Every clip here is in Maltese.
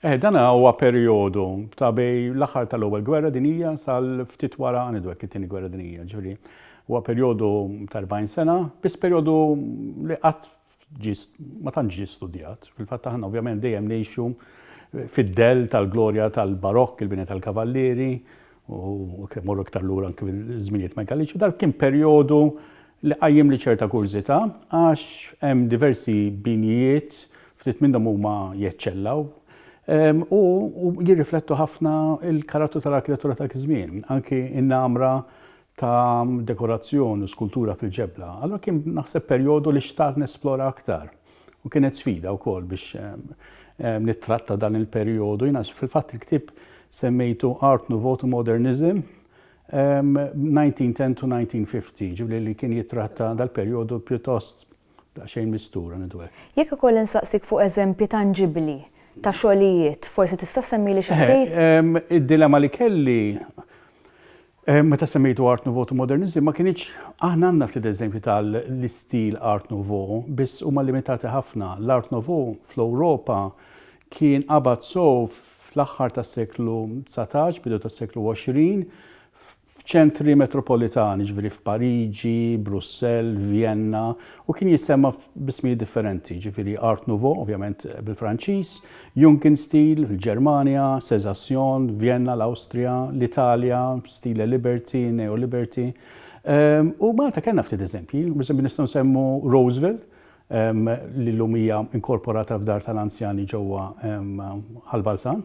Eh, dan huwa perjodu ta' bej l-aħħar tal-Ewwel Gwerra Dinija sal-ftit wara għanidu hekk it-Tieni Gwerra Dinija, ġifieri huwa perjodu ta' 40 sena, biss perjodu li qatt ma tantx ġie studjat. Fil-fatt aħna ovvjament dejjem ngħixu fid-dell tal-glorja tal-barokk, il-bini tal-kavallieri, u kemm morru iktar lura anke mill-żminijiet megaliċi, dak kien perjodu li qajjem li ċerta kurżità għax hemm diversi binijiet ftit minnhom huma jeċċellaw ehm, u jirriflettu ħafna il-karattu tal-arkitettura ta' żmien, anki in-namra ta' dekorazzjoni u skultura fil-ġebla, allura kien naħseb perjodu li xtaqt nesplora aktar. U kienet sfida wkoll biex nittratta dan il-perjodu. Jiena fil-fatt il-ktieb semmejtu Art Nouveau to Modernism 1910 to 1950, ġifieri li kien jittratta dal-perjodu pjuttost daqsxejn mistur, għan ngħidu hekk. Jekk ikolli nsaqsik fuq eżempji tanġibbli ta' xogħlijiet, forsi tista' ssemmili xi ftit? Id-dilemma li kelli Eh, meta semmejtu Art Nouveau to Modernism, ma kienieċ aħna għandna ftit eżempju tal-istil Art Nouveau, biss huma limitati ħafna. L-Art Nouveau fl-Ewropa kien qabad sow fl-aħħar tas-seklu 19, bidu tas-seklu 20, f'ċentri metropolitani, ġviri f'Pariġi, Brussell, Vienna, u kien jissemma bismi differenti, ġviri Art Nouveau, ovvjament bil-Franċiż, Junkin Stil, il-Ġermanja, Sezasjon, Vjenna, l-Awstrija, l-Italja, Stile Liberty, Neo-Liberty. U Malta kellna ftit eżempji, biex nistgħu nsemmu Roseville, li llum hija inkorporata f'dar tal-anzjani ġewwa Ħal Balzan.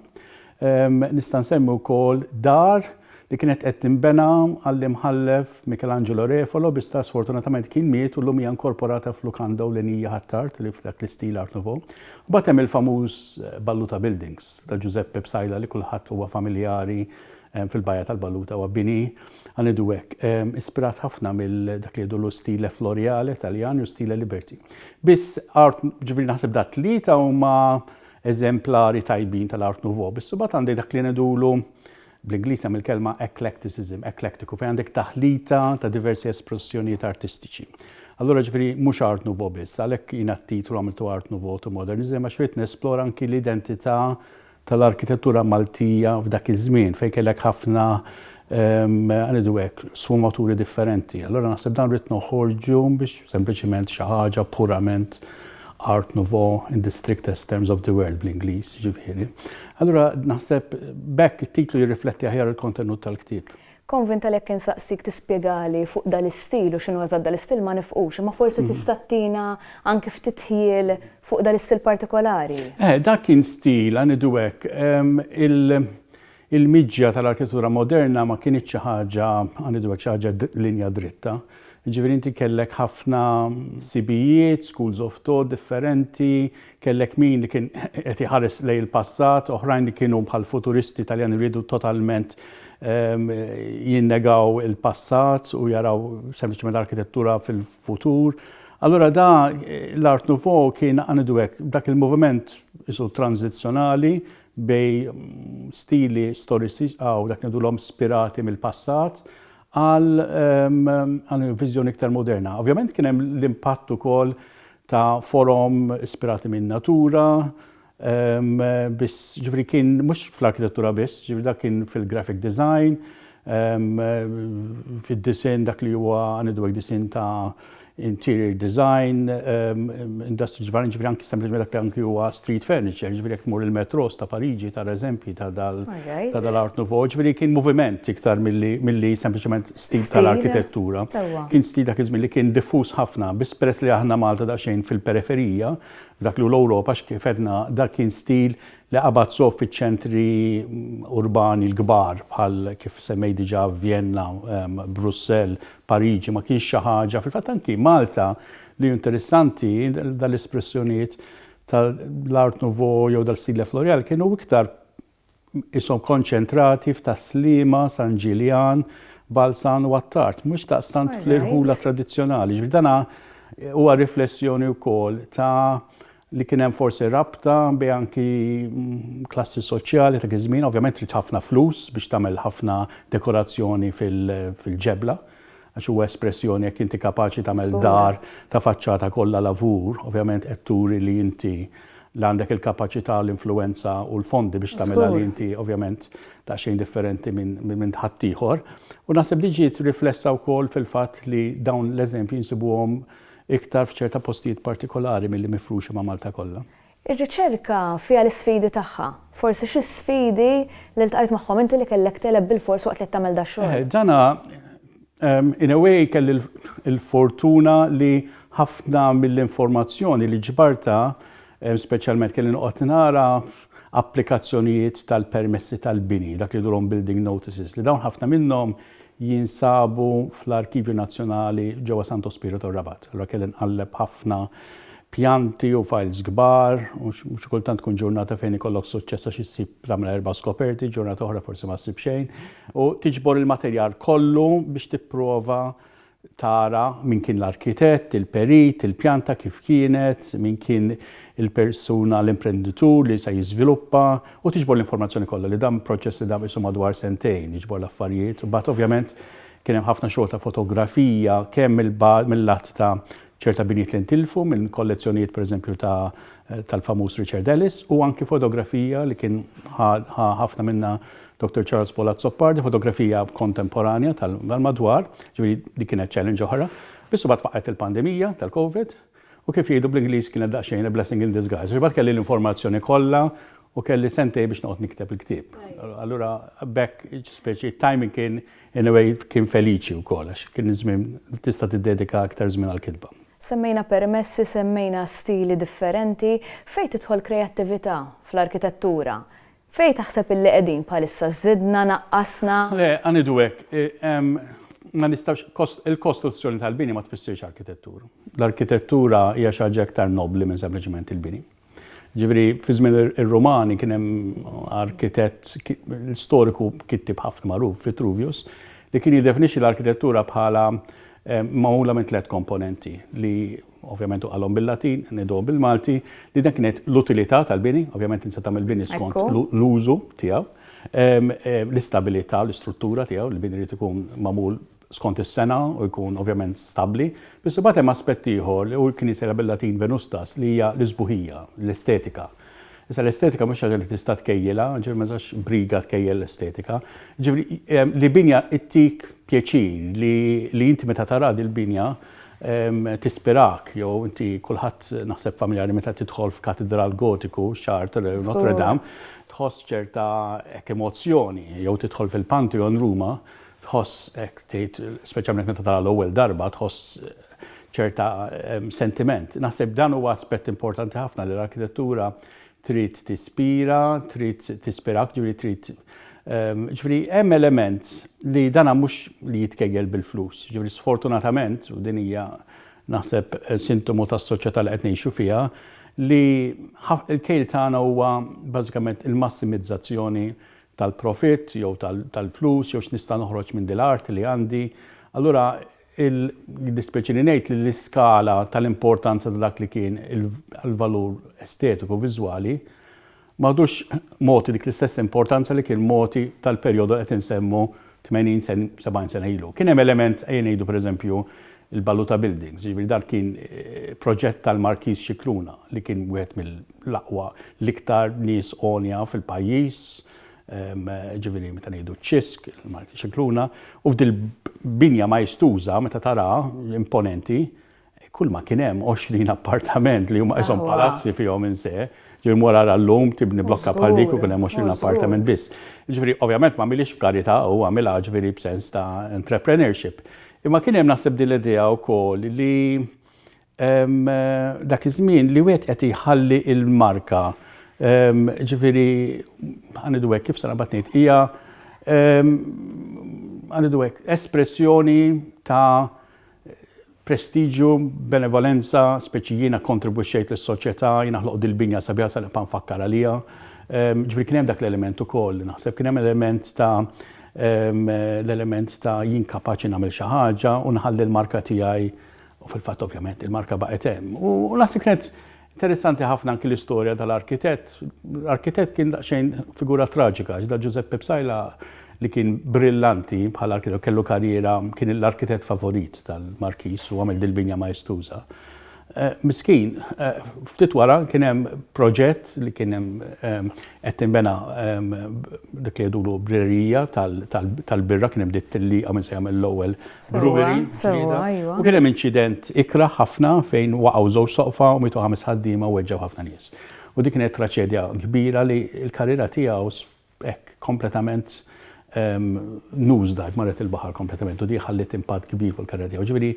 Nista' nsemmi wkoll dar li kienet qed tinbena għall-Imħallef Michelangelo Refalo, bi sta sfortunatament kien miet u llum hija inkorporata f'lukanda ewlenija Ħ'Attard li f'dak l-istil Art Nouveau. Mbagħad hemm il-famuż Balluta Buildings ta' Ġużeppe Psaila li kulħadd huwa familjari fil-Bajja tal-Balluta huwa bini, ħa ngħidu hekk, ispirat ħafna mill dak li jgħidulu stile floriale Taljan u stile liberty. Biss art ġifieri naħseb da tlieta huma eżemplari tajbin tal-Art Nouveau, biss imbagħad għandek dak li ngħidulu bl-Ingliż hemm il-kelma eclecticism, eklektiku, fejn għandek taħlita ta' diversi espressjonijiet artistiċi. Allura ġifieri mhux art nouveau biss, għalhekk jiena t-titlu għamiltu art nouveau to modernism għax ried nesplora anki l-identità tal-arkitettura Maltija f'dak iż-żmien fejn kellek ħafna għanidu hekk sfumaturi differenti. Allura naħseb dan ried noħorġu biex sempliċement xi ħaġa purament Art Nouveau in the strictest terms of the word bl-Ingliż, ġifieri. Allura naħseb bekk it-titlu jirrifletti aħjar il-kontenut tal-ktieb. Konvinta li jekk insaqsik tispjegali fuq dal-istil u x'inhu eżatt dal-istil ma nifqux, imma forsi mhm. tista' tina anki ftit ħjiel fuq dal-istil partikolari. Eh, dak kien stil, għanidu hekk, Il-miġja tal-arkitettura moderna ma kinitx xi ħaġa anidwa, xi ħaġa linja dritta. Jiġifieri inti kellek ħafna sibijiet, schools of thought differenti, kellek min li kien qed iħares lejn il-passat, oħrajn li kienu bħall-futuristi Taljani riedu totalment jinnegaw il-passat u jaraw sempliċement arkitettura fil-futur. Allura da l-Art Nouveau kien anidwek dak il-moviment isu transizzjonali bi stili storici aw dak li ngħidulhom spirati mill-passat, għal għal viżjoni iktar moderna. Ovvjament kien hemm l-impatt ukoll ta' forom ispirati min-natura, biss ġifri kien mhux fl-arkitettura biss, ġifri dak kien fil-graphic design, fid-disinn dak li huwa ngħidu hekk disinn ta' interior design, industries varji, ġifieri anki sempliċement dak li anki huwa street furniture, ġifieri jekk tmur il-metros ta' Pariġi tara eżempji ta' dal ta' dal-Art Nouveau, ġifieri kien moviment iktar milli milli sempliċement stil tal-arkitettura. Kien stil dak iż-żmien li kien diffuż ħafna, biss peress li aħna Malta daqsxejn fil-periferija, f'dak li hu l-Ewropa, kif għedna dak kien stil li qabad sew fiċ-ċentri urbani l-kbar bħal kif semmejt diġà Vjenna, Brussell, Pariġi, ma kienx xi ħaġa, fil-fatt anki Malta li hu interessanti dal-espressjonijiet tal-Art Nouveau jew dal-Stile Eflorial kienu iktar ishom konċentrati f'Tas-Sliema, San Ġiljan, Balzan u Attard, mhux daqstant fl-irħula tradizzjonali. Ġifieri dan huwa riflessjoni wkoll ta' li kien hemm forsi rabta bejn anki klassi soċjali ta' dak iż-żmien, ovvjament trid ħafna flus biex tagħmel ħafna dekorazzjoni fil-ġebla, għax huwa espressjoni jekk inti kapaċi tagħmel dar ta' faċċata kollha lavur, ovvjament qed turi li inti li għandek il-kapaċità u l-influwenza u l-fondi biex tagħmilha li inti ovvjament daqsxejn differenti minn ħaddieħor. U naħseb din ġiet riflessa wkoll fil-fatt li dawn l-eżempji nsibuhom Iktar f'ċerta postijiet partikolari milli mifruxa ma' Malta kollha. Ir-riċerka fiha l-isfidi tagħha. Forsi xi sfidi li ltqajt magħhom inti li kellek tegħleb bilfors waqt li qed tagħmel dax-xogħol? Eħe, dana in a way kelli l-fortuna li ħafna mill-informazzjoni li ġbartha Speċjalment kelli noqgħod nara applikazzjonijiet tal-permessi tal-bini, dak li jidhruhom building notices, li dawn ħafna minnhom jinsabu fl-Arkivju Nazzjonali ġewwa Santo Spirito r-Rabat. Allura kelli nqalleb ħafna pjanti u files kbar u xi kultant tkun ġurnata fejn ikollok suċċess għax issib tagħmel erba' skoperti, ġurnata oħra forsi ma ssib xejn u tiġbor il-materjal kollu biex tipprova tara min kien l-arkitett, il-perit, il-pjanta kif kienet, min kien il-persuna, l-imprenditur li se jiżviluppa u tiġbor l-informazzjoni kollha li dan proċess li dam qisu madwar sentejn jiġbor l-affarijiet. Imbagħad ovvjament kien hemm ħafna xogħol ta' fotografija kemm mill-lat ta' ċerta binjiet li ntilfu minn kollezzjonijiet pereżempju ta' tal-famuż Richard Ellis u anki fotografija li kien ħafna minna Doktor Charles Paul Azzopardi, fotografija kontemporanja tal-madwar, ġifieri dik kienet challenge oħra. Biss imbagħad faqgħet il-pandemija tal-COVID u kif jgħidu bl-Ingliż kienet daqsxejn a blessing in disguise. Imbagħad kelli l-informazzjoni kollha u kelli sentej biex noqgħod nikteb il-ktieb. Allura bekk speċi timing kien in a way kien feliċi wkoll għax kien iż-żmien tista' tiddedika aktar żmien għall-kitba. Semmejna permessi, semmejna stili differenti, fejn tidħol kreattività fl-arkitettura? Fejn taħseb illi qegħdin bħalissa? Żidna, naqqasna? Le, ħa ngħidu hekk, ma nistgħux, kost, il-kostruzzjoni tal-bini ma tfissirx arkitettura. L-arkitettura hija xi ħaġa iktar nobbli minn sempliċement il-bini. Jiġifieri fi żmien ir-Rumani kien hemm arkitett, storiku kittieb ħafna magħruf, Vitruvius, li kien jiddefinixxi l-arkitettura bħala magħmula minn tliet komponenti li ovvjament hu qalhom bil-Latin, ngħiduhom bil-Malti, li dan kien jgħid l-utilità tal-bini, ovvjament inti tagħmel bini skont l-użu tiegħu, l-istabilità, l-istruttura tiegħu, il-bini jrid ikun magħmul skont is-sena u jkun ovvjament stabbli. Biss imbagħad hemm aspett ieħor li hu l-Knisja bil-Latin Venustas li hija l-isbuħija, l-estetika. Issa l-estetika mhux xi ħaġa li tista' tkejjilha, ġifieri ma tistax briga tkejjel l-estetika. Ġifieri li binja ttik pjaċir, li li inti meta tara dil-binja tispirak jew inti kulħadd naħseb familjari meta tidħol f'katidral Gotiku, Chartres jew Notre Dame, tħoss ċerta hekk emozzjoni jew tidħol fil-Pantheon Ruma, tħoss hekk tgħid speċjalment meta tara l-ewwel darba tħoss ċerta sentiment. Naħseb dan huwa aspett importanti ħafna li l-arkitettura trid tispira, trid tispirak, ġifieri trid ehm, ġifieri hemm element li dana mhux li jitkejjel bil-flus. Ġifieri sfortunatament, u din hija naħseb eh, sintomu tas-soċjetà li qed ngħixu fiha, li l-kejl tagħna huwa bażikament il-massimizzazzjoni tal-profit jew tal-flus jew x'nista' noħroġ minn dil-art li għandi. Allura Jiddispjaċini ngħid li l-iskala tal-importanza ta' dak li kien il-valur estetiku viżwali ma għadux mogħti dik l-istess importanza li kien mogħti tal-perjodu li qed insemmu 80 sen 70 sena ilu. Kien hemm element ejja ngħidu pereżempju il-Baluta Buildings, jiġifieri dan kien proġett tal-Markiż Scicluna li kien wieħed mill-aqwa l-iktar nies għonja fil-pajjiż, ġifieri meta ngħidu ċ-Ċisk, il-Marki Scicluna, u f'dil-binja maestuża meta taraha, imponenti, kulma kien hemm 20 appartament li huma qishom palazzi fihom in se, ġifieri mur ara llum tibni blokka bħal dik u jkun hemm 20 appartament biss. Ġifieri ovvjament m'għamilhiex b'karità hu, għamilha ġifieri b'sens ta' entrepreneurship. Imma kien hemm naħseb din l-idea wkoll li dak iż-żmien li wieħed qed jħalli l-marka, jiġifieri ħa ngħidu hekk, kif se naqbad ngħid, hija ħa ngħidu hekk, espressjoni ta' prestiġju, benevolenza, speċi jiena kkontribwixxejt lis-soċjetà, jiena ħloqt dil-binja sabiħa se nibqa' nfakkar għaliha. Jiġifieri kien hemm dak l-element ukoll, naħseb kien hemm element ta' l-element ta' jien kapaċi nagħmel xi ħaġa u nħalli l-marka tiegħi U fil-fatt ovvjament il-marka baqgħet hemm. U naħseb kienet interessanti ħafna anki l-istorja tal-arkitett. L-arkitett kien daqsxejn figura traġika, ġda Giuseppe Psajla li kien brillanti bħal arkitett kellu karriera kien l-arkitett favorit tal-Markis u għamel dil-binja maestuża. Eh, miskin, eh, ftit wara kien hemm proġett li kien hemm eh, qed tinbena dik li jgħidulu brerija tal-birra kien hemm dit tilliqa minn se jagħmel l-ewwel Brughery, Ġlieda, u kien hemm inċident ikrah ħafna fejn waqgħu żewġ soqfa u mietu ħames ħaddiema u weġġgħu ħafna nies. U dik kienet traċedja kbira li l-karriera tiegħu hekk kompletament nose dive, marret il-baħar kompletament u di ħalliet impatt kbir fuq il-karriera tiegħu. Ġifieri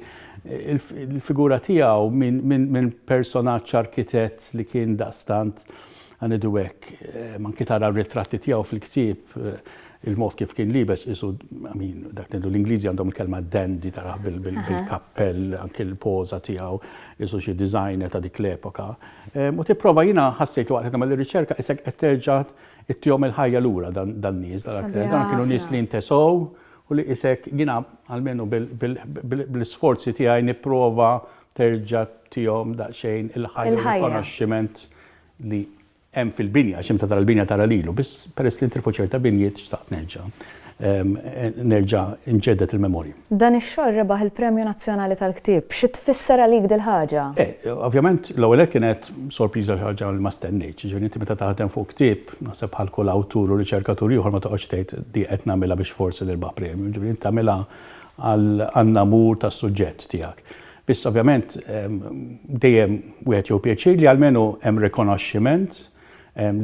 il-figura tiegħu minn personaġġ arkitett li kien daqstant Ħa ngħidu hekk, anki tara r-ritratti tiegħu fil-ktieb, il-mod kif kien liebes qisu, I mean, dak li ngħidu l-Ingliżi għandhom il-kelma dandy tarah bil-kappell, anki l-poża tiegħu, qisu xi designer ta' dik l-epoka. U tipprova jiena ħassejt li waqt qed nagħmel ir-riċerka isek qed terġa' ittihom il-ħajja lura dan-nies, dawn kienu nies li ntesew u li isek jiena almenu bl-isforzi tiegħi nipprova terġa' tihom daqsxejn il-ħajja u rikonoxximent li hemm fil-binja, għax imta tara l-binja tara lilu, biss peress li ntilfu ċerta binjiet xtaqt nerġa' nerġa' nġedded il-memorji. Dan ix-xogħol rebaħ il-Premju Nazzjonali tal-Ktieb. Xi tfisser għalik dil-ħaġa? Eh, ovvjament l-ewwel nett kienet sorpriża xi ħaġa li ma stennejtx. Jiġifieri inti meta taħdem fuq ktieb, naħseb bħal kull awtur u riċerkatur ieħor ma toqgħodx tgħid di qed nagħmilha biex forsi nirbaħ premju. Jiġifieri inti tagħmilha għall-namur tas-suġġett tiegħek. Biss ovvjament dejjem wieħed jieħu pjaċir li almenu hemm rikonoxximent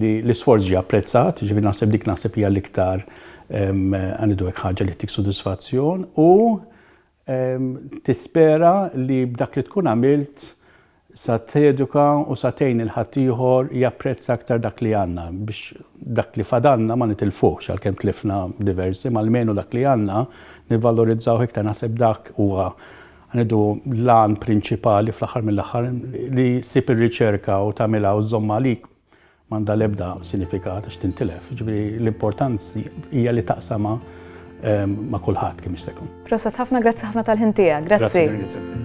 li l-isforz ġie apprezzat, jiġifieri naħseb dik naħseb hija l-iktar għanidu hekk ħaġa li ttik sodisfazzjon u tispera li b'dak li tkun għamilt sa teduka u sa tgħin il-ħaddieħor japprezza aktar dak li għandna biex dak li fadalna ma nitilfuhx għalkemm tlifna diversi ma almenu dak li għandna nivvalorizzaw iktar naħseb dak huwa Ngħidu l-għan prinċipali fl-aħħar mill-aħħar li ssib ir-riċerka u tagħmilha u żżommha għalik m'għandha l-ebda sinifikat għax tintilef. Ġifieri l-importanzi hija li taqsama ehm, ma' kulħadd kemm jista' jkun. Proset ħafna, grazzi ħafna tal-ħin tiegħek. Grazzi. grazzi.